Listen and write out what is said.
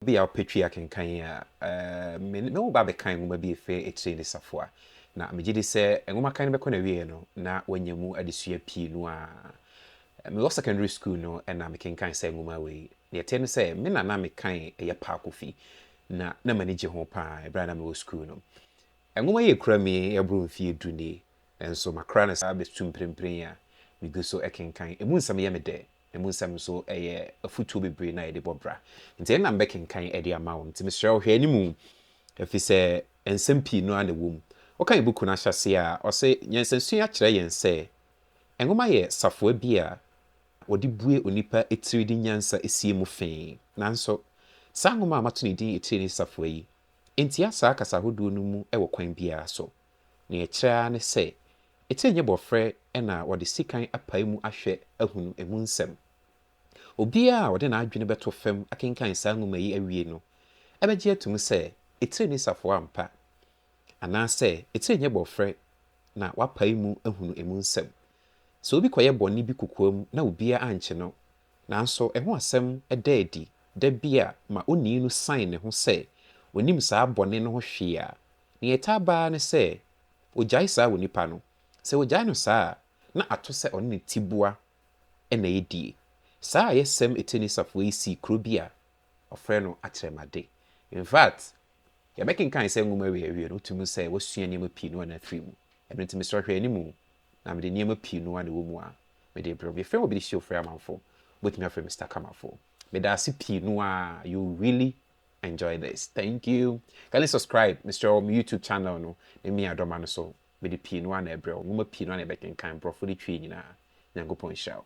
Ebia wopetwee akenkan yi a, me ne wo ba bɛkan nwoma bi efi Akyire ne Safoa, na megye di sɛ nwoma kan no bɛkɔ n'awieeɛ no, na woanya mu adesua pii no ara. Mewɔ sekɔndri sukuu no na mekenkan saa nwoma wei. Deɛ ɛteɛ ne sɛ, me na na mekan Ɛyɛ Pa Kofi, na na m'ani gye ho pa ara berɛ a na mewɔ sukuu no. Nwoma yi akura me aboro mfeɛ du nie, nanso makora no saa bɛsu mprempren a megu so kenkan. Emu nsɛm yɛ me dɛ. Emu nsɛm nso yɛ afotuo bebree no a yɛde bɔ bra. Nti ɛnna mebɛkenkan de ama wo. Nti mesrɛ wo, hwɛ anim, efisɛ nsɛm pii no ara na ɛwom. Wokan buku no ahyɛaseɛ a, ɔse, Nyansasua kyerɛ yɛn sɛ nwoma yɛ safoa bi a wɔde bue onipa tiri de nyansa sie mu fe. Nanso, saa nwoma a mato ne din Etire Ne Safoa yi ntia saa kasa ahodoɔ no mu wɔ kwan biara so. Nea ɛkyerɛ ara ne sɛ, ɛte nyɛ bɔfrɛ na wɔde sekan apae mu ahwɛ ahunu emu nsɛm. Obiara a ɔde n'adwene bɛto fam akenkan saa nwoma yi awie no bɛgye atom sɛ etire ne safoa ampa, anaasɛ etire nyɛ bɔfrɛ na wapae mu ahunu emu nsɛm. Sɛ obi kɔyɛ bɔne bi kokoam na obiara ankye no, nanso ɛho asɛm da adi da bi a ma onii no san ne ho sɛ onnim saa bɔne no ho hwee a, Nea ɛtaa ba ara ne sɛ wogyae saa wɔ nipa no. Sɛ wogyae no saa a, na ato sɛ ɔne ne tiboa na ɛyɛ die. Saa ayɛsɛm eteeni safoa yi sii kuro bi a wɔfrɛ no Atrɛmade. In fact, yɛbɛkenkan saa nwoma wei awie no, wotumi hu sɛ wɔasua nneɛma pii no ara na afiri mu. Ɛno nti, mesrɛ hwɛ anim na mede nneɛma pii no ara na ɛwɔ mu a mede rebrɛ wo. Yɛfrɛ me Obi Dehye Ofori Amanfo. Wobɛtumi afrɛ me Stakamafoɔ. Meda ase pii no ara, you really Enjoy this thank you Kane subscribe mesrɛ wo me YouTube channel no ne me adɔma no so mede pii no a na ɛbrɛ wo nwoma pii no a na ɛbɛkenkan borɔfo de twi nyinaa Nyankopɔn nhyira wo.